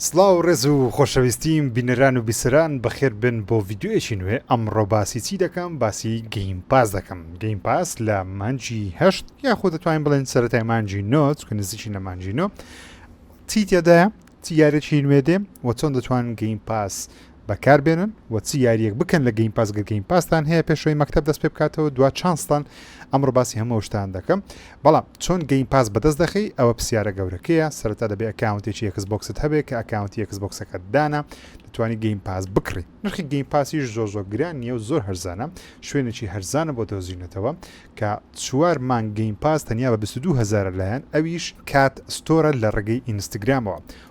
سڵاو ڕێز و خۆشەویستیم بینەران و بیسەران بەخێر بێن بۆ ڤیدیۆیەکی نوێ ئەمڕۆ باسی چی دەکەم باسی گەیم پاس دەکەم گەیم پاس لە مانجی هەشت یاخۆ دەتوانین بڵێن سەرەتای مانجی نۆ چکە نزیکی لە مانجی نۆ چی تێدایە چی یارێکی نوێ دێ وە چۆن دەتوان گەیم پاس بەکار بێنن و چ یاریەک بکەن لە گەیم پاس گەر گەیم پاستان هەیە پێشەوەی مەکتەب دەست پێ بکاتەوە دوا چانستان ئەمڕۆ باسی هەموو شتان دەکەم بەڵام چۆن گەیم پاس بەدەست دەخەی ئەوە پرسیارە گەورەکەیە سەرەتا دەبێ ئەکاونتێکی ئێکس بۆکست هەبێ کە ئەکاونتی ئێکس بۆکسەکەت دانا دەتوانی گەیم پاس بکڕی نرخی گەیم پاسیش زۆر زۆر گران نیە و زۆر هەرزانە شوێنێکی هەرزانە بۆ دۆزینەتەوە کە چوار مانگ گەیم پاس تەنیا بە 22 هەزارە لایەن ئەویش کات ستۆرە لە ڕێگەی ئینستگرامەوە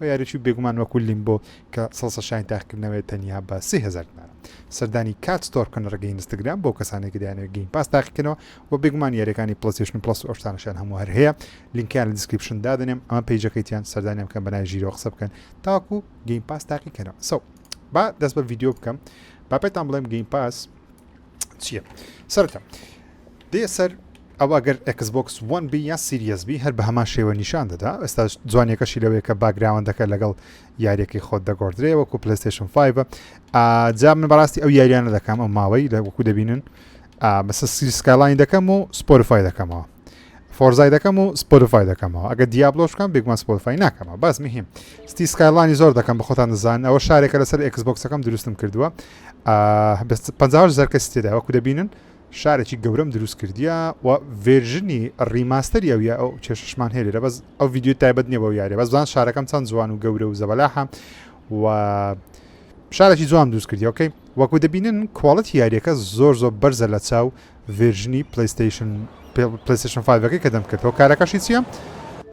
و یاریچی بێگومان وەکو لیمبۆ کە سەڵسە شایەنی تاقیکردنەوەیە تەنیا بە سێ هەزار دینارە. سەردانی Cat Store بکەن لە ڕێگەی ئینستاگرام بۆ ئەو کەسانەی کە دەیانەوێت گەیم پاس تاقیکەنەوە و بێگومان یاریەکانی پڵەیستەیشن پڵەس و ئەو شتانەشیان هەموو هەر هەیە لینکەیان لە دیسکریپشن دادەنێم ئەمە پەیجەکەی تیان سەردانیان بکەن بە ناوی ژیرەوە قسە بکەن تاوەکو گەیم پاس تاقیکەنەوە سەو با دەست بە ڤیدیۆ بکەم با پێتان بڵێم گەیم پاس چییە سەرتە دێ سەر ئەوە گەر ئەکسبکس وەن بی یا سیریەس بی هەر بە هەمان شێوە نیشان دەدا ئێستا جوانیەکەشی لەوەیە کە باگراوەندەکە لەگەڵ یاریەکەی خۆت دەگۆدرێ وەکو پلیستشن 5 جا من بەڕاستی ئەو یاریانە دەکەم ئەو ماوەی لە وەکو دەبینن بەسە سکالاین دەکەم و سپۆرفای دەکەمەوە فۆرزای دەکەم و سپۆتفای دەکەمەوە ئەگە دیابلۆش بکەم بێگومان سپۆتفای ناکەمەوە باس مهم ستی سکایلانی زۆر دەکەم بەخۆتان دەزان ئەوە شارێکە لەسەر ئەکسبکسەکەم دروستم کردووە 50 زەرکەسی تێدا وەکو دەبینن شارێکی گەورەم دروست کردیە و ڤێژنی ڕیماستەری ئەوە ئەو چێشمان هەیە لە بەس ئەو ویددیو تایبەت نیە بە یاری بەزان شارەکەم چەند جوان و گەورە و زەبەلاحە و شارێکی جوان دروست کردیەکەی وەکو دەبینن کوواڵەت یاریەکە زۆر زۆر بەرزە لە چاو ڤێرژنی پلەیستەیشن پلەیستەیشن فایڤەکەی کە دەمکرد هۆکارەکەشی چییە؟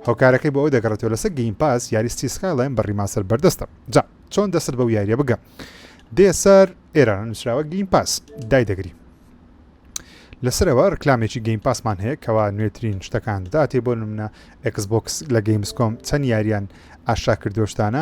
هۆکارەکەی بۆ ئەوە دەگەڕێتەوە لەسەر گەیم پاس یاری ستی سکایلاین بە ڕیماستەر بەردەستە جا چۆن دەستت بەو یاریە بگە دێ سەر ئێران نووسراوە گەیم پاس دای دەگری لەسەرەوە ڕکلامێکی گەیم پاسمان هەیە کەوا نوێترین شتەکان دەداتێ بۆ نمونە ئەکس بۆکس لە گەیمسکۆم چەند یاریان ئاشا کردۆشتانە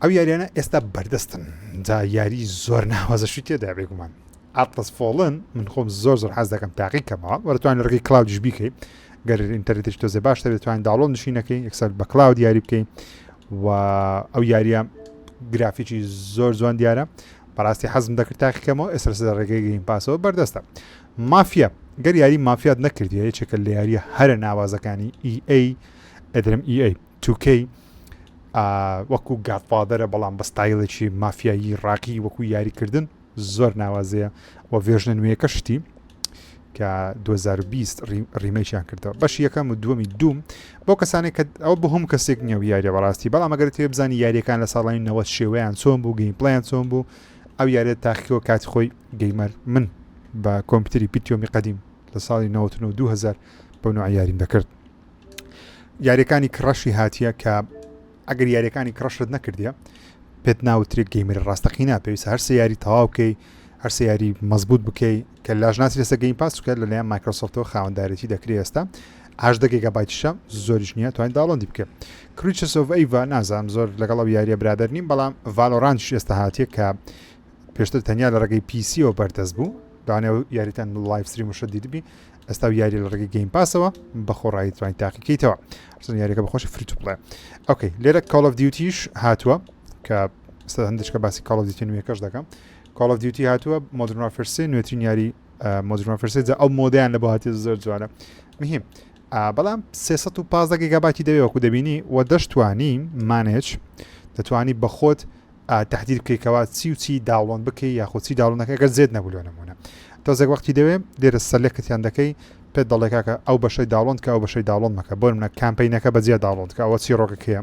ئەو یاریانە ئێستا بەردەستن جا یاری زۆر ناوازەشی تێدا بێگومان ئاتلس فۆڵن من خۆم زۆر زۆر حەز دەکەم تاقی کەمەوە وەرتوان ڕگەی کلااودش بیکەی گەر ئینتەرێتش تۆزێ باش دەبێتوانین داڵۆن نشینەکەی یەکسەر بە کلااو دیاری بکەین و ئەو یاریە گرافیکی زۆر جوان دیارە بەڕاستی حەزم دەکرد تاقیکەمەوە ئێستا سەر ڕێگەی گەین پاسەوە بەردەستە مافیا گەر یاری مافیات نەکردی یەکێکە لە یاریە هەرە ناوازەکانی EA ئەدرم EA 2K ئا وەکو گادفادەرە بەڵام بە ستایلێکی مافیایی ڕاقی وەکو یاریکردن زۆر ناوازەیە و ڤێژنە نوێیەکە شتی کە 2020 ڕیمەیان کردەوە بەش یەکەم و دووەمی دوم بۆ کەسانێک کە ئەو بە هەم کەسێک نیە و یاریە بەڕاستی بەڵام ئەگەر تێ بزانانی یاریەکان لە ساڵانی نەوە شێوەیان چۆن بوو گەین پلیان چۆن بوو ئەو یاریە تاخیەوە کاتی خۆی گەیمەر من بە کۆمپیوتری پیتیۆمی قدیم لە ساڵی 1992 بۆ نوع یاریم دەکرد یاریەکانی کڕەشی هاتیە کە ئەگەر یاریەکانی کڕەشت نەکردە پێت ناوترێت گەیمری ڕاستەقینا پێویست هەر سیاری تەواوکەی هەر سیاری مەزبوط بکەی کە لاژ ناسی لەسە گەین پاس بکە لە لایەن مایکرۆسۆفتەوە خاوەندارێتی دەکرێت ئێستا هاش دەگێکە بایتشە زۆریش نییە توانین داڵندی بکە کریچسۆڤ ئەیڤ نازانم زۆر لەگەڵ ئەو یاریە برادر نیم بەڵام ڤالۆرانش ئێستا هااتێک کە پێشتر تەنیا لە ڕێگەی پیسیەوە بەردەست بوو دانێ و یاریتان لایف سری مشە دیدبی ئەستا و یاری لە ڕێگەی گەیم پاسەوە بەخۆڕایی توانین تاقیکەیتەوە حسن یاریەکە بەخۆشی فری تو بڵێ ئۆکەی لێرە کاڵ ئەف دیوتیش هاتووە کە سە هەندشکە باسی کاڵ ئەف دیتی نوێکەش دەکەم کاڵ ئەف دیوتی هاتووە مۆدرن وافرسێ نوێترین یاری مۆدرن فرسێ جا ئەو مۆدیان لە بۆ هاتی زۆر جوانە مهم بەڵام 315 گەگاباتی دەوێ وەکو دەبینی و دەشتوانی مانێچ دەتوانی بەخۆت تەحدید بکەی کەوا چی و چی داوڵۆن بکەی یاخۆ چی داوڵنەکە گەر زێت نەبوو لۆ نمونە تۆزێک وەختی دەوێ لێرە سەلێکتیان دەکەی پێت دەڵێ کاکە ئەو بەشەی داڵۆند کە ئەو بەشەی داڵۆن مەکە بۆ منە کامپینەکە بەجیا داڵۆند کە ئەوە چی ڕۆگەکەیە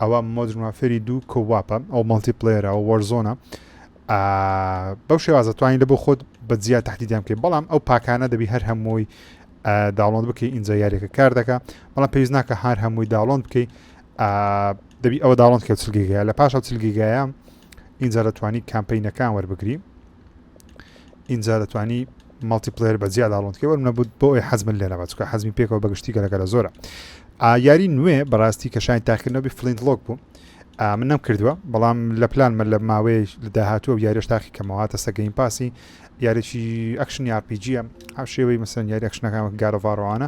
ئەوە مۆدرمافێری دوو کۆواپە ئەو مەڵتی پلێرە و وەرزۆنە بەو شێوازە توانین لە بۆ خۆت بەجیا تهدیدیان بکەین بەڵام ئەو پاکانە دەبی هەر هەمووی داڵۆند بکەی ئینجا یاریەکە کار دەکە بەڵام پێویست ناکە هەر هەمووی داڵۆند بکەی دەبی ئەوە داڵند کە چل گیگایە لە پاش ئەو چل گیگایە ئینجا دەتوانی کامپینەکان وەربگری ئینجا دەتوانی مەڵتی پلێر بە جیا داڵندکە وەرم نەبوت بۆ ئەوی حەزمن لێ نەبە چکە حەزمی پێکەوە بەگشتی گەلەکە لە زۆرە یاری نوێ بەڕاستی کە شاین تاقیکردنەوەی فلینت لۆک بوو من نەم کردووە بەڵام لە پلانمە لە ماوەیە لە داهاتوە و یاریش تاقی کەمەوە تەسە گەین پاسی یاریی ئەکشنی یاپیجیە ئەو شێوەی مەسەن یاری ئەکشنەکان گارەڤڕوانە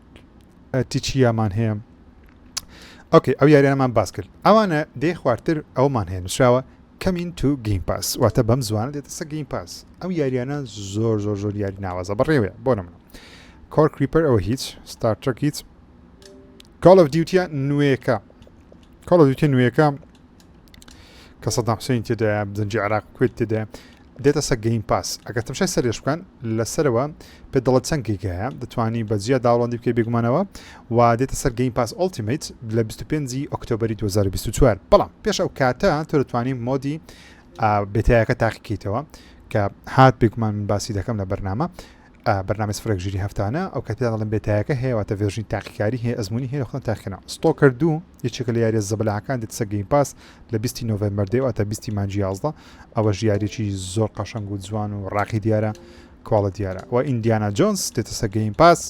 ئەتی چیامان هەیە ئۆکەی ئەو یاریانەمان باس کرد ئەوانە دێ خوارتر ئەومان هەیە نووسراوە کەمین تو گیم پاس واتە بەم زوانە دێتە سە گیم پاس ئەو یاریانە زۆر زۆر زۆر یاری ناوازە بەڕێوەیە بۆ نمە کۆر کریپەر ئەوە هیچ ستارتەک هیچ کاڵ ئەف دیوتە نوێەکە کاڵ دیوتە نوێەکە کە سەدام حسین تێدا دەنجی عراق کوێت تێدا دێتە سە گەیم پاس ئەگەر تەمشای سەرێش بکەن لە سەرەوە پێ دەڵە چەند گیگایە دەتوانی بە جیا داوڵندی بکە بێگومانەوە و دێتە سەر گەیم پاس ئۆلتیمیت لە 25 ئۆکتۆبری 2024 بەڵام پێش ئەو کاتە تۆ دەتوانین مۆدی بێتایەکە تاقیکەیتەوە کە هات بێگومان من باسی دەکەم لە بەرنامە ئا بەرنامەی سفرێک ژیری هەفتانە ئەو کات پێتان دەڵێم بێ تایەکە هەیە واتە ڤێرژنی تاقیکاری هەیە ئەزموونی هەیە خۆتان تاقی کەنەوە ستۆکەر دوو یەکێکە لە یاریە زەبەلاحەکان دێتسە گەیم پاس لە بیستی نۆڤێمبەر دێ واتە بیستی مانجی یازدە ئەوەش یاریەکی زۆر قەشەنگ و جوان و ڕاقی دیارە کواڵە دیارە و ئیندیانا جۆنس دێتسە گەیم پاس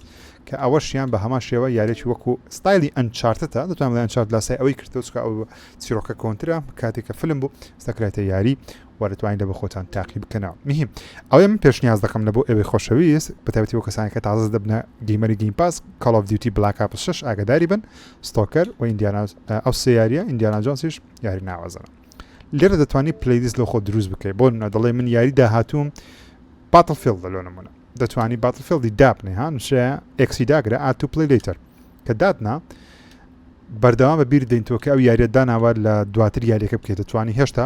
کە ئەوەشیان بە هەمان شێوە یارێکی وەکو ستایلی ئەنچارتتە دەتوان بڵێ ئەنچارت لاسای ئەوەی کردۆچکە ئەو چیرۆکە کۆنترە کاتێکە فلم بوو ستەکرێتە یاری وە دەتوانین لە بۆ خۆتان تاقی بکەنەوە مهم ئەوەی من پێشنیاز دەکەم لە بۆ ئێوەی خۆشەویست بە تایبەتی بۆ کەسانی کە تازە دەبنە گەیمەری گەیم پاس کاڵ ئۆف دیوتی بلاک ئاپس 6 ئاگداری بن ستۆکەر و ئیندیانا ئەو سێ یاریە ئیندیانا جۆنسیش یاری ناوازەنە لێرە دەتوانانی پلیلیست لە خۆ دروست بکەیت بۆ نە دەڵێ من یاری داهاتووم باتل فیل لەلۆ نمونە دەتوانی باتل فیلدی دابنێ ها نووسرە ئەکسی داگرە ئات و پلی لیتەر کە دادنا بەردەوام بە بیر دەینتەوە کە ئەو یاریە داناوە لە دواتر یاریەکە بکەێت دەتوانانی هێشتا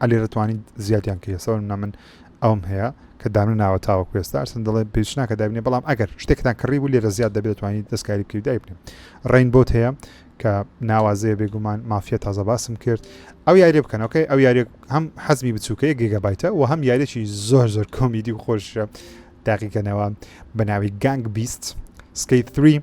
علی رتوانی زیادیان کرد سەر نە من ئەوم هەیە کە دامن ناوە تاوەکو ئێستا ئەرسن دەڵێ بێچناکە دابنێ بەڵام ئەگەر شتێکتان کڕی بوو لێرە زیاد دەبێت توانانی دەستکاری بکەی دای بنێ ڕین بۆت هەیە کە ناوازەیە بێگومان مافیە تازە باسم کرد ئەو یاری بکەنەوەکەی ئەو یاری هەم حەزمی بچووکەیە گێگەبایتە و هەم یارێکی زۆر زۆر کۆمیدی و خۆشە داقیکەنەوە بەناوی گانگ بیست سکیت 3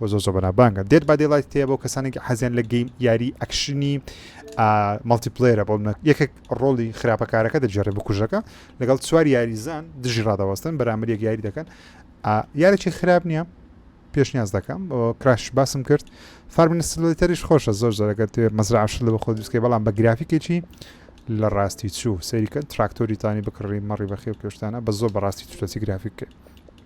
وە زۆر زۆر بەنابانگە دێد با دێلایت تێ بۆ کەسانێک حەزیان لە گەیم یاری ئەکشنی مەڵتی پلێرە بۆ منە یەکێک ڕۆڵی خراپەکارەکە دەجێڕێ بکوژەکە لەگەڵ چوار یاریزان دژی ڕادەوەستن بەرامبەر یەک یاری دەکەن یارێکی خراپ نییە پێشنیاز دەکەم کراش باسم کرد فارمنسلیتەریش خۆشە زۆر زۆرەگەر توێ مەزرعش لە بە خۆ دروستکە بەڵام بە گرافیکێکی لە ڕاستی چوو سەریکە تراکتۆریتانی بکڕی مەڕی بەخێو کێشتانە بە زۆر بەڕاستی چوتەسی گرافیککە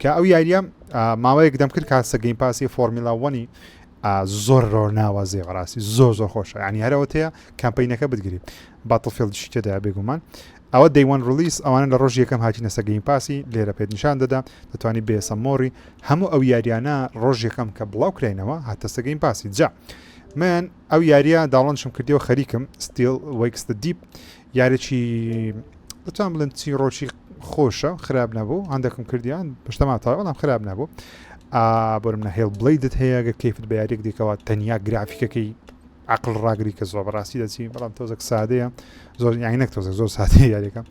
کە ئەو یاریە ماوەیەک دەمکرد کاسە گەیم پاسی فۆرمیلا وەنی زۆر ڕۆ ناوازێ بەڕاستی زۆر زۆر خۆش ینی هەرەوەتەیە کەمپینەکە بگری باتڵفیلدشی تێدا بێگومان ئەوە دەیوان ڕلیس ئەوانە لە ڕۆژ یەکەم هاتی نەسە گەیم پاسی لێرە پێت نیشان دەدا دەتوانانی بێسە مۆری هەموو ئەو یاریانە ڕۆژ یەکەم کە بڵاو کراینەوە هاتەسە گەیم پاسی جا من ئەو یاریە داڵنشم کردیەوە خەریکم ستیل وەیکستە دیپ یارێکی بتوان بڵێن چیڕۆکی خۆشە خراپ نەبوو هەندێکم کردیان پشتەما تا بەڵام خراپ نەبوو بۆرم نەهێڵ بڵیدت هەیە گە کەیفت بە یاریێک دیکەوە تەنیا گرافیکەکەی عقل ڕاگری کە زۆر بەڕاستی دەچین بەڵام تۆزەک سادەیە زۆر یانی نەک تۆزە زۆر سادەیە یاریەکە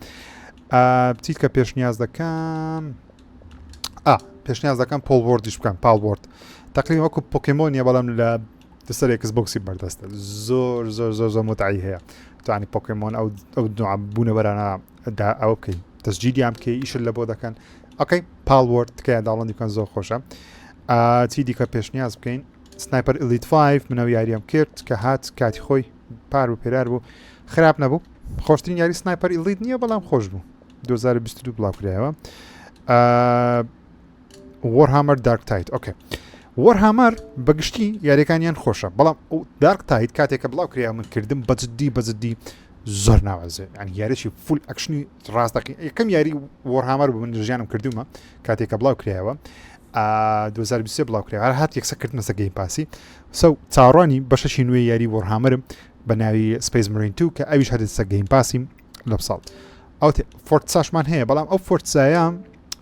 بچیت کە پێشنیاز دەکەم پێشنیاز دەکەم پۆڵبردیش بکەم پاڵبرد تقریبا وەکو پۆکیمۆنیە بەڵام لە دو سەر ئێکس بۆکسی بەردەستە زۆر زۆر زۆر زۆر متعی هەیە توانی پۆکمۆن ئەو ئەو نوع بوونەوەرانە دا ئەو بکەین تەسجیدیان بکەی ئیشل لە بۆ دەکەن ئەوکەی پاڵوەرد تکایە داڵندی بکەن زۆر خۆشە چی دیکە پێشنیاز بکەین سنایپەر ئلیت 5 منەوە یاریەم کرد کە هات کاتی خۆی پار و پێرار بوو خراپ نەبوو خۆشترین یاری سنایپەر ئلیت نییە بەڵام خۆش بوو 2022 بڵاوکرایەوە وەرهامەر دارک تایت ئۆکێ وەرهامەر بەگشتی یاریەکانیان خۆشە بەڵام ئەو دارک تایت کاتێکە بڵاو کریا من کردم بەجددی بەجددی زۆر ناوازێ ئەنی یاریی فول ئەکشنی ڕاستەقی یەکەم یاری وەرهامەر بوو من ژیانم کردومە کاتێکە بڵاو کرایەوە 2023 بڵاو کرا هەر هات یەکسە کردنەسە گەی پاسی سە چاڕانی بەشەشی نوێ یاری وەرهامەرم بە ناوی سپیس مرین تو کە ئەویش هەدەسە گەیم پاسیم لە ساڵ ئەو فۆرت ساشمان هەیە بەڵام ئەو فۆرتسایە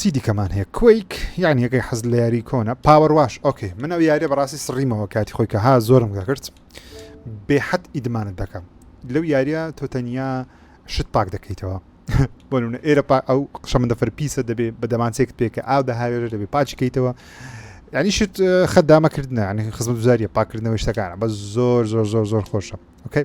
چی دیکەمان هەیە کویک یعنی یەکەی حەز لە یاری کۆنە پاوەڕ واش ئۆکەی من ئەو یارە بەڕاستی سڕیمەوە کاتی خۆی کە ها زۆرم گەکرد بێحەت ئیدمانت دەکەم لەو یاریە تۆ تەنیا شت پاک دەکەیتەوە بۆ نمونە ئێرە ئەو شەمەندەفەر پیسە دەبێ بە دەمانچێک پێکە ئاو دەهاوێژ دەبێ پاچکەیتەوە ینی شت خەدامەکردە ینی خزمەت زاریە پاکردنەوەی شتەکانە بە زۆر زۆر زۆر زۆر خۆشە ئۆکەی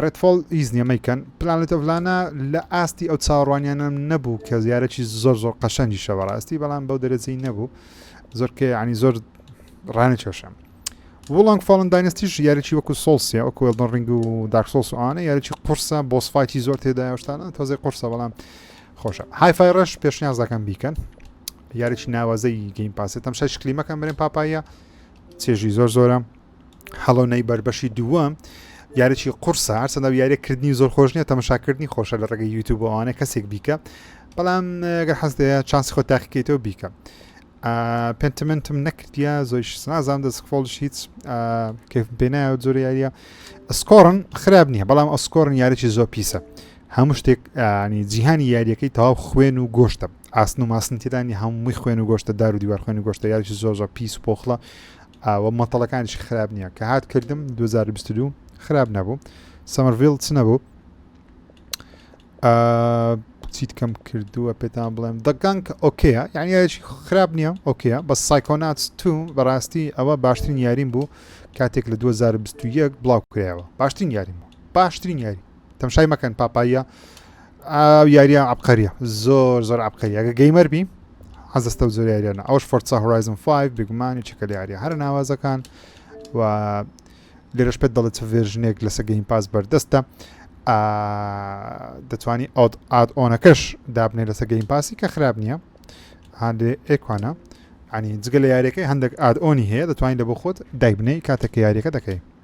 ڕێدفۆڵ هیچ نیە مەیکەن. پلانێت ئۆف لانا لە ئاستی ئەو چاوەڕوانیانەم نەبوو کە یارەکی زۆر زۆر قەشەنگیشە بەڕاستی بەڵام بەو دەرەجەی نەبوو زۆر کە ینی زۆر ڕانە کێشم وڵنگ فۆڵن داینستیش یارەکی وەکو سۆسیە ئەو کوێڵدن ڕنگ و داکسۆس ئەوانە یارەکی قورسە بۆسفاکی زۆر تێدا شتانە تۆزی قورسە بەڵام خۆشە هایفای ڕەش پێشنیاز دەکەم بیکەن یارێکی ناوازەی گەیم پاسێتم شش کلیمەکەم برێن پاپاییە چێژی زۆر زۆرە هەڵۆنەی بەربەشی دووەم یاریی قورسە هەرچەندە یاریکردنی زۆر خۆش نیە تەمەشاکردنی خۆشە لە ڕێگەی یوتوبوانە کەسێک بیکە بەڵام گە حەزدەیە چانس خۆ تاقیکەیتەوە بیکە پێنتمنتم نەکردە زۆی نازان دەستفۆڵش هیچ پێناە زۆر یاریە ئەسکۆڕن خراپ نییە بەڵام ئەسکۆرن یاریی زۆر پیسە هەموو شتێک ینی جیهانی یاریەکەی تەواو خوێن و گۆشتە ئاسن و ماسنتیدانی هەمووی خوێن و گۆشتە دار و دیوار خوێن و گۆشتە یاریی زۆر زۆر پیس و پۆخڵە ئاوە مەتەڵەکانیش خراپ نییە کە هات کردم 2022 خراپ نەبوو سەمەرڤیل چ نەبوو چیت کەم کردووە پێتان بڵێم دەگەنگ ئۆکەیە یعنی یاریشی خراپ نییە ئۆکەیە بە سایکۆنات تو بەڕاستی ئەوە باشترین یاریم بوو کاتێک لە 2021 بڵاو کرایەوە باشترین یاریم بوو باشترین یاری تەمشای مەکەن پاپاییە ئاو یاریە عبقەریە زۆر زۆر عبقەری ئەگە گەیمەر بی حەزستە و زۆر یاریانە ئەوش فۆرسا هورایزم 5 بگومانی چکە لە یاریە هەر ناوازەکان و لێرەش پێت دەڵێت چ ڤێژنێک لەسە گەیم پاس بەردەستە دەتوانی ئەوت ئاد ئۆنەکەش دابنێ لەسە گەیم پاسی کە خراپ نییە هاندێ ئێکوانە ئەنی جگە لە یاریەکەی هەندێک ئاد ئۆنی هەیە دەتوانین لە بۆ خۆت دایبنەی کاتێک یاریەکە دەکەی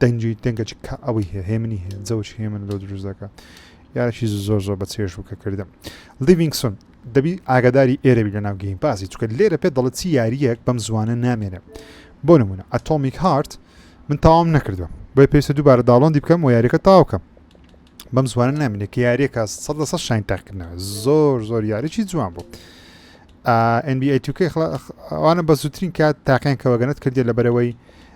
دەنگی دەنگە چ کا ئەوەی هەیە هێمنی هەیە جەوەکی هێمن لۆ دروست دەکە یارەشی زۆر زۆر بە چێژ بوو کە کردم لیڤینگسون دەبی ئاگاداری ئێرەبی لە ناو گەیم پاسی چکە لێرە پێ دەڵێت چی یاریەک بەم زوانە نامێنێ بۆ نمونە ئەتۆمیک هارت من تاوام نەکردووە بۆی پێویستە دووبارە داڵۆندی بکەم و یاریەکە تاوکەم بەم زوانە نامێنێ کە یاریەکە سە لە سە شین تاکردنەوە زۆر زۆر یاریی جوان بوو. NBA 2K ئەوانە بە زووترین کات تاقیان کەەوەگەنت کردی لە بەرەوەی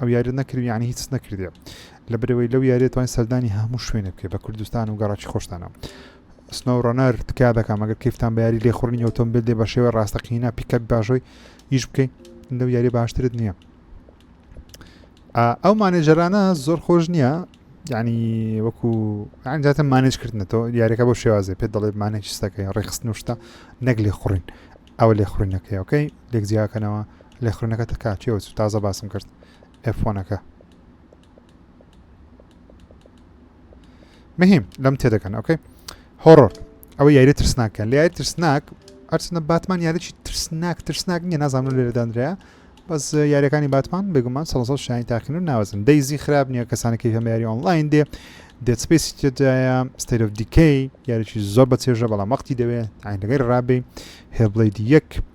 ئەو یاریەت نەکردی یانی هیچ نەکردێ لەبرەوەی لەو یاریێت توانین سەردانی هەموو شوێنە بکە بە کوردستان و گەڕاکی خۆشتانە سنەو ڕۆنەر تکا دەکەم ئەگەر کەفتان بەیاری لێ خوڕنی ئۆتۆمبیل دێ بە شێوە ڕاستەقینە پیکەک باشۆی ئیش بکەین لەو یاری باشترت نییە ئەو مانێژەرانە زۆر خۆش نییە ینی وەکو ئەجاتە مانێج کردنەوە یاریەکە بۆ شێوازێ پێ دەڵێت مانێکیستەکەی ڕێخست نوشتە نەک لێ خوڕین ئەوە لێ خوڕینەکەیەکەی لێک جیاکەنەوە لێخوڕینەکە تە کاتیەوە چوو تازە باسم کرد ئەفۆنەکە مهم لەم تێدەکەن ئۆکەی هۆڕۆر ئەوە یاری ترسناکە لە یاری ترسناک ئەرچنە باتمان یاریی ترسناک ترسناک نیە نازانم لێرەدانرا بەس یاریەکانی باتمان بێگومان سەڵ شانی تاقین و ناوەزن دەیزی خراپ نییە کەسانەکەی هەم یاری ئۆنلاین دێ دەسپێسی تێدایە ستەیرۆ دیکەی یاریی زۆر بە چێژە بەڵام وەختی دەوێت ئاینەکەی ڕابێ هێبڵی یەک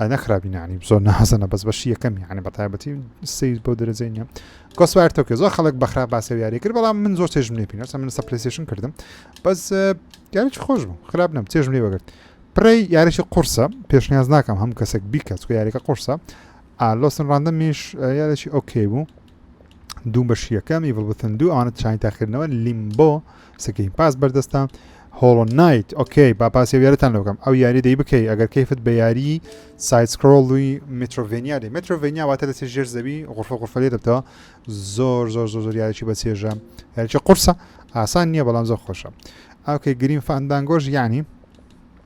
ئەە خراپی نانی زۆر نازەنە بەس بەشی یەکەمی یعنی بەتایبەتی سیر بۆ دەرەجەی نیە گۆسوار تۆکە زۆر خەڵک بەخرا باسە یاری کرد بەڵام من زۆر چێژم لێ پینەسە من سەپلسیشن کردم بەس یاریی خۆش بوو خراپ نم چێژم لێ بەگرت پرەی یاریشی قورسە پێشنیاز ناکەم هەم کەسێک بیکەس و یاریەکە قورسە ئالۆسن ڕاندەمیش یاریی ئۆکەی بوو دوو بەشیەکە میڤڵ بتن دوو ئەوانە چانی تاخیرنەوە لیمبۆ سکرین پاس بەردەستە هۆڵۆ نایت ئۆکەی با پاسی یارەتان لە بکەم ئەو یاری دەی بکەی ئەگەر کەیفت بە یاری سایسکرۆڵی مترۆڤنیا دەی مترۆڤنیا واتە دەستی ژێر زەوی غرفە غرفەلێ دەبتەوە زۆر زۆر زۆر زۆر یاریی بە چێژە یاریی قورسە ئاسان نییە بەڵام زۆر خۆشە ئاکەی گرین فاندانگۆش یعنی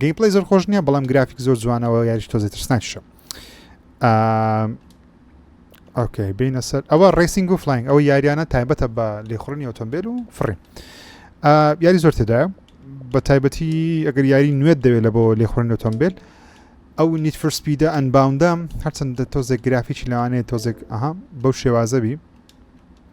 گەیم پلی زۆر خۆش نییە بەڵام گرافیک زۆر جوانەوە یاریش تۆزی ترسناکیشە ئۆکەی بینە سەر ئەوە ڕیسینگ و فلاین ئەو یاریانە تایبەتە بە لێخڕنی ئۆتۆمبیل و فڕین یاری زۆر تێدا بە تایبەتی ئەگەر یاری نوێت دەوێت لە بۆ لێخڕن ئۆتۆمبیل ئەو نیت فرسپیدە ئەنباوندەم هەرچەندە تۆزێک گرافیکی لەوانەیە تۆزێک ئەها بەو شێوازەبی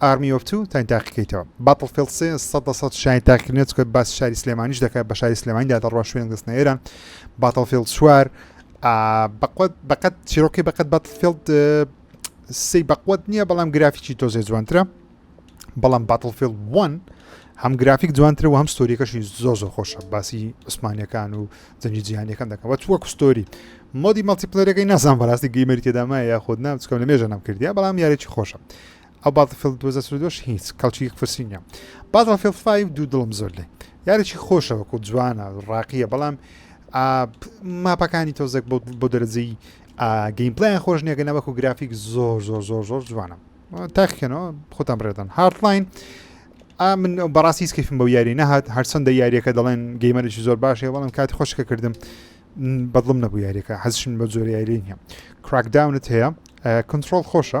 Army of Two تاین تاقیکەیتەوە Battlefield سێ سەد لە سەد شاین تاقیکردنێت چکە باسی شاری سلێمانیش دەکات بە شاری سلێمانیدا دەڕوا شوێن دەستنە ئێرە Battlefield چوار بەقوت بەقەت چیرۆکی بەقەت Battlefield سی بەقوت نییە بەڵام گرافیکی تۆزێ جوانترە بەڵام Battlefield 1 هەم گرافیک جوانتر و هەم ستۆریەکەشی زۆ زۆ خۆشە باسی عوسمانەکان و جەنگی جیهانەکان دەکەوە تووە کوستۆری مۆدی مەڵتیپلەرەکەی نازان بەڕاستی گەیمەری تێدامایە یاخود نام چکەم لە مێژە نەم کردیا بەڵام یارێکی خۆشە ئەو باتڵفیڵد دوو هەزار و چل و دوو ش هیچ کەڵکی فرسی نیە باتڵفیڵد فایڤ دوو دڵم زۆر لێ یارێکی خۆشە وەکو جوانە ڕاقیە بەڵام ماپەکانی تۆزێک بۆ دەرەجەی گەیم پلیان خۆش نیە گەنە وەکو گرافیک زۆر زۆر زۆر زۆر جوانە تاخکەنەوە خۆتان ڕێدەن هارتلاین من بەڕاستی کەفم بەو یاری نەهات هەرچەندە یاریەکە دەڵێن گەیمەرێکی زۆر باشێ بەڵم کاتی خۆشکە کردم بەدڵم نەبوو یاریەکە حەزشن بە جۆری یاری نیە کراکداونت هەیە کنترۆل خۆشە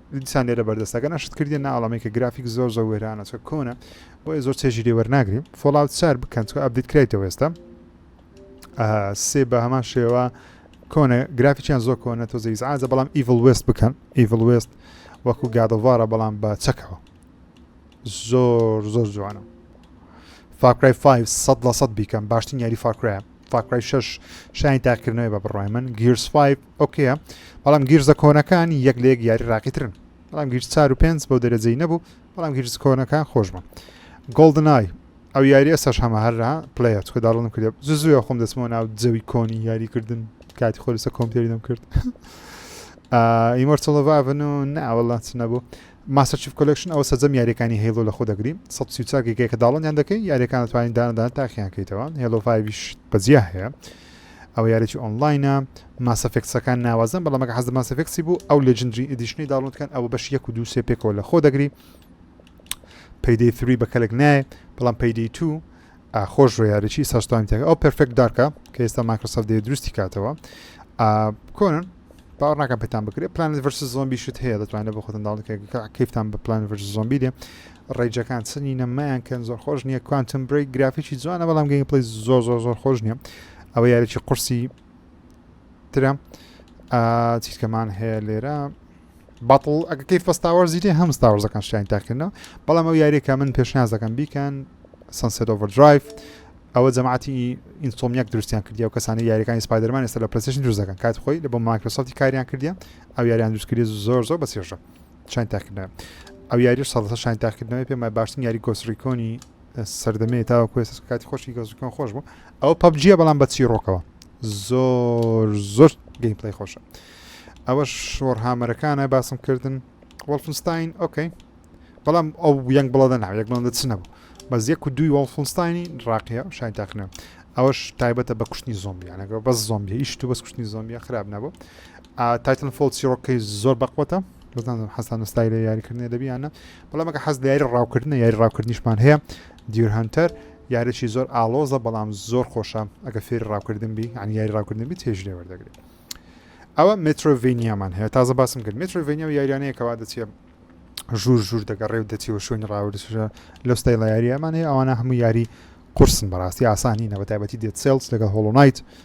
دیسان لێرە بەردەستەکە نەشت کردی ناڵەمەی کە گرافیک زۆر زۆر وێرانە چکە کۆنە بۆیە زۆر چێژی لێ وەرناگریم فۆڵاوت سار بکەن چکە ئەبدیت کرایتەوە ئێستا سێ بە هەمان شێوە کۆنە گرافیکیان زۆر کۆنە تۆ زەیزعازە بەڵام ئیڤڵ وست بکەن ئیڤڵ وست وەکو گادەوارە بەڵام بە چەکەوە زۆر زۆر جوانە فاکرای 5 سە لە سە بیکەم باشترین یاری فاکرای فاکرای 6 شانی تاکردنەوەی بە بڕای من گیرس 5 ئۆکەیە بەڵام گیرزە کۆنەکان یەک لە یەک یاری ڕاقیترن بەڵام گیرز چار و پێنج بەو دەرەجەی نەبوو بەڵام گیرز کۆنەکان خۆش بوون گۆڵدنای ئەو یاری ئێستاش هەمە هەرا پلیت کە داڵم کرێ زوزوە خۆم دەچمەوە ناو جەوی کۆنی یاریکردن کاتی خۆ لەسە کۆمپیوتەری دەم کرد ئیمۆرتڵڤڤن و ناوەڵا چ نەبوو ماستەر چیف کۆلکشن ئەو سەجەم یاریەکانی هێڵۆ لە خۆ دەگری 1940 گەکە داڵنیان دەکەی یاریەکان توانین دانەدان تاخیان کەیتەوە هێڵۆڤایش بەجیا هەیە ئەوە یاریەکی ئۆنڵاینە ماس ئەفێکتسەکان ناوازەن بەڵام ئەگە حەز لە ماس ئەفێکتسی بوو ئەو لێجندری ئیدیشنەی داونلۆد کەن ئەوە بەش یەک و دوو سێ پێکەوە لە خۆ دەگری پەیدەی فروی بە کەلک نایە بەڵام پەیدەی تو خۆش ڕۆ یاریی ساستانی تێک ئەو پرفێکت دارکە کە ئێستا مایکرۆسەف دێ دروستی کاتەوە کۆنن باوە ناکەم پێتان بکرێت پلان ڤرس زۆمبی شت هەیە دەتوانێت بە خۆتن داڵکە کەفتان بە پلان ڤرس زۆمبی دێ ڕەیجەکان چ نینە مەیان کەن زۆر خۆش نییە کوانتم برێک گرافیکی جوانە بەڵام گەین پلی زۆر زۆر زۆر خۆش نییە ئەوە یاریی قورسی ترە چیتکەمان هەیە لێرە بەڵ ئەگە کەی فستاوەەر زیری هەم ستاوەزەکان شیان تاکردنەوە بەڵام ئەو یاریەکە من پێشنازەکەم بیکەن سنسێت ئۆڤەر درایف ئەوە جەماعتی ئینسۆمیاک دروستیان کردی و کەسانی یاریەکانی سپایدەرمان ئێستا لە پرسیشن دروستەکەن کات خۆی لە بۆ مایکرۆسەتی کاریان کردیان ئەو یاریان دروستکردی زۆر زۆر بەسێژە شان تاکردنەوە ئەو یاریش سەدە شان تاکردنەوەی پێمە باشتن یاری گۆسریکۆنی سەردەمێ تاوە کوێ کاتی خۆشی گۆسریکۆن خۆش بوو ئەو پبجیە بەڵام بە چیرۆکەوە زۆر زۆر گەیم پلی خۆشە ئەوە شۆڕ هامەرەکانە باسم کردن وەڵفنستین ئۆکەی بەڵام ئەو یەنگ بڵدە ناو یەک بڵندە چ نەبوو بەس یەک و دوی وەڵفنستانی ڕاقیە شای تاخنە ئەوەش تایبەتە بە کوشتنی زۆمبیانەکە بەس زۆمبی هیچ تو بەس کوشتنی زۆمبیە خراپ نەبوو تایتن فۆڵ چیڕۆکەی زۆر بەقوەتە بەزانم حەستان نستای لە یاریکردنی دەبی یانە بەڵام مەگە حەز لە یاری ڕاوکردنە یاری ڕاوکردنیشمان هەیە دیور هەنتەر یاریی زۆر ئالۆزە بەڵام زۆر خۆشە ئەگە فێری ڕاوکردن بی ئەنی یاری ڕاوکردن بی تێژ لێ وەردەگرێت ئەوە مترۆڤینیامان هەیە تازە باسم کرد مترۆڤینیا و یاریانەیەکەوا دەچێ ژوور ژوور دەگەڕێ و دەچی و شوێنی ڕاوردسرە لە ستای لە یاریەمانەیە ئەوانە هەموو یاری قرسن بەڕاستی ئاسانی نەبەتایبەتی دێت سێلس لەگە هۆڵۆنایت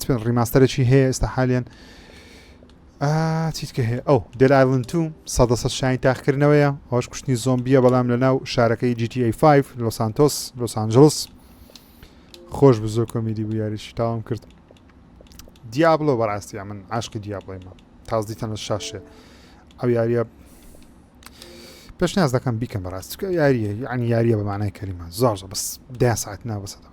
چ ڕیماستەرێکی هەیە ئێستا حالیان چیتکە هەیە ئەو دێل ئایلند تو سەدە سە شاین تاخکردنەوەیە هۆش کوشتنی زۆمبیە بەڵام لە ناو شارەکەی GTA5 لۆ سانتۆس لۆ سانجلس خۆش بزۆ کۆمیدی بوو یاریش تاوام کرد دیابلۆ بەڕاستە من عاشقی دیابڵێمە تازدیتە لە شاشێ ئەو یاریە پێش ناز دەکەم بیکەم بەڕاست یاریە یعنی یاریە بەمانای کەریمە زۆر بەس دە ساعت ناوەسەدەوە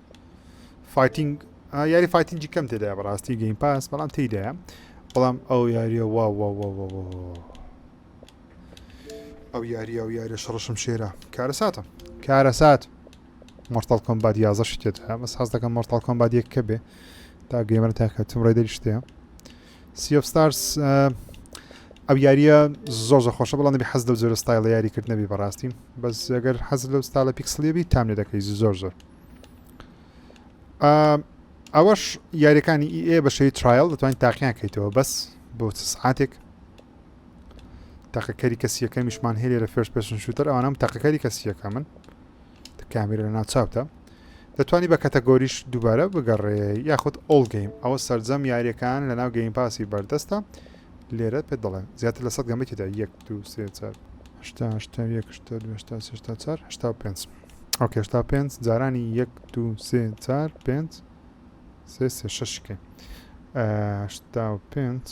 فایتنگ یاری فایتنگی کەم تێدای بەڕاستی گەیم پاس بەڵام تێدایە بەڵام ئەو یاریە وا ئەو یاری ئەو یاریە شڕشم شێرە کارە ساتە کارە سات مۆرتال کۆمبات یازە شتێت هە بەس حەز دەکەم مۆرتال کۆمبات یەک کە بێ تا گەیمەر تاکە تم ڕێدەری شتەیە سیفستارس ئەو یاریە زۆر زە خۆشە بەڵام نبی حەز لەو جۆرە ستایل یاریکرد نەبی بەڕاستی بەس ئەگەر حەز لەو ستالە پیکسلیبی تام لێ دەکەی زۆر زۆر ئەوەش یاریەکانی ئێ بە شێوی ترایل دەتوانین تاقییان کەیتەوە بەس بۆ سعاتێک تاقەکەری کەسیەکە میشمان هێلێ لە فێرش پێشن شووتەر ئەوانم تاقەکەری کەسیەکە من کامێرە لە ناوچاوتە دەتوانی بە کەتەگۆریش دووبارە بگەڕێ یاخود ئۆڵ گەیم ئەوە سرجەم یاریەکان لە ناو گەیم پاسی بەردەستە لێرە پێ دەڵێن زیاتر لە سەد گەمەێکدا یەک دو سێ چار هشتا هشتا یەک شتا دوشتا سشتا چار هشتا پێنج ئەو کێشتا پێنج جارانی یەک دو سێ چار پێنج سێ سێ شەشکێ هشتا و پێنج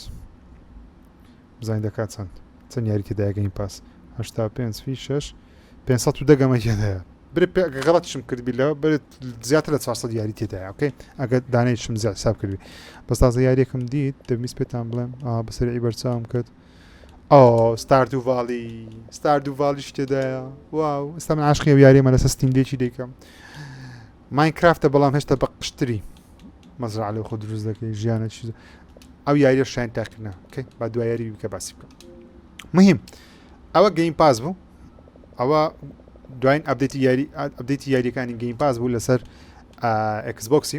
بزین دەکات چەند چەند یاریکە دایگەین پاس هشتا پێنج فی شش پێ و دەگەمە هێدەیە برێ غەڵەتشم کردبی لە بێت زیاتر لە 400 یاری تێدای ئۆکەی ئەگە دانێکشم زیاد حساب کردی بەستازە یاریەکەم دیت دەمیست پێتان بڵێم بەسەری بەرچاوم کرد ئۆ ستاردو ڤالی ستاردو ڤالیش تێدایە واو ئستا من عاشقی و یاریمە لەسە ستیمدێکی دەیکەم ماینکرافتە بەڵام هێشتا بە قشتری مەزرا لە خۆ دروست دەکەی ژیانە چیز ئەو یاریە شوێن تاقینا کەی با دو یاری بکە باسی بکە مهم ئەوە گەیم پاس بوو ئەوە دوایین ئەبدێتی یاری ئەبدێتی یاریەکانی گەیم پاس بوو لەسەر ئەکسبکسی